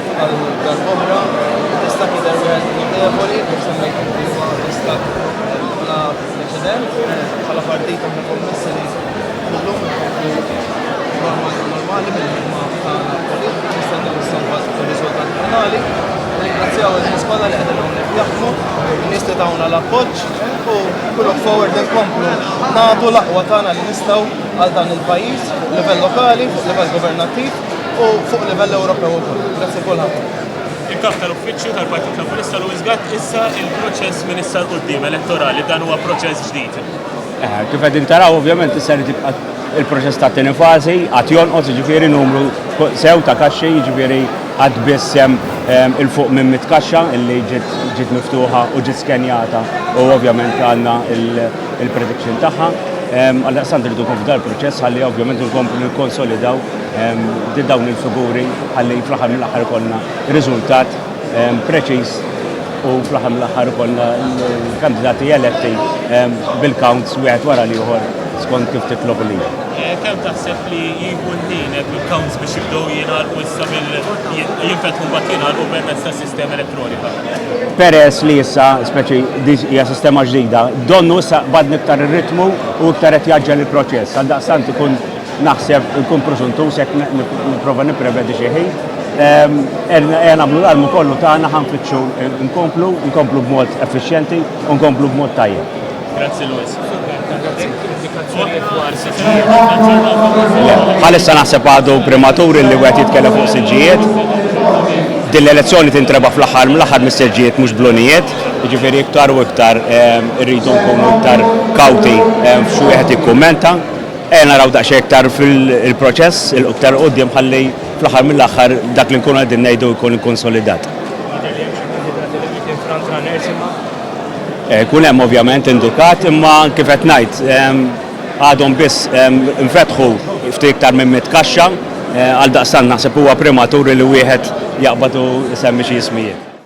Għal darb'oħra, tista' tidher wieħed notevoli kif semmejt inti huwa istat bla preċedent bħala partit aħna kommessi li kullum normali normali mill-ħidma tagħna politika nistennew issomma riżultat finali. Ringrazzjaw il-nies kollha li qegħdin hawnhekk jaħdmu, nies li tawna l-appoġġ u kull forward inkomplu nagħtu l-aqwa tagħna li nistgħu għal dan il-pajjiż, livell lokali, livell governattiv. u fuq livell Ewropew ukoll. Grazzi kulħadd. Il-Kap tal-Uffiċċju tal-Partit Laburista Louis Gatt issa il-proċess minn issa l-qudiem elettorali dan huwa proċess ġdid. Eh, kif qegħdin taraw ovvjament issa li tibqa' il-proċess ta' tieni fażi għad jonqos jiġifieri numru sew ta' kaxxi jiġifieri għad biss hemm ehm, il-fuq minn mit kaxxa illi ġiet miftuħa u ġiet skenjata u ovvjament għandna il- il-prediction tagħha. Għal-daqstant rridu kif dal proċess ħalli ovvjament nkomplu nikkonsolidaw din dawn il-figuri ħalli fl-aħħar mill-aħħar konna riżultat preċiż u fl-aħħar mill-aħħar konna l-kandidati eletti bil-counts wieħed wara l-ieħor skont kif titlob li. Eh, Kem taħseb li jieħu l-ħin bil-counts biex jibdew jingħalqu issa mill jinfetħu mbagħad jingħalqu permezz tas Sistema elettronika. Peress li issa, speċi, hija sistema ġdida, donnu issa badni iktar ir-ritmu u iktar qed jaġġel il-proċess. Għal daqstant ikun naħseb ikun prosuntus jekk nipprova nipprevedi xi ħin. Ehm, Ejja nagħmlu l-almu kollu tagħna ħanfittxu nkomplu, nkomplu b'mod effiċjenti u nkomplu b'mod tajjeb. Grazzi Luis. Għalissa naħseb għadu prematur li wieħed jitkellem fuq siġġijiet. Din l-elezzjoni tintreba fl-aħħar mill-aħħar mis-seġġijiet mhux blunijiet, jiġifieri iktar u iktar ehm, irridu nkunu iktar kawti ehm, f'xi wieħed ikkummenta. Ejja naraw daqsxejn iktar fil-proċess il-iktar qudiem ħalli fl-aħħar mill-aħħar dak li nkunu qegħdin ngħidu jkun konsolidat. Eh, kun hemm ovvjament indukat, imma kif qed ngħid għadhom biss nfetħu ftit iktar minn mit kaxxa eh, għal daqstan naħseb huwa primaturi li wieħed jaqbad u semmi xi jismijiet.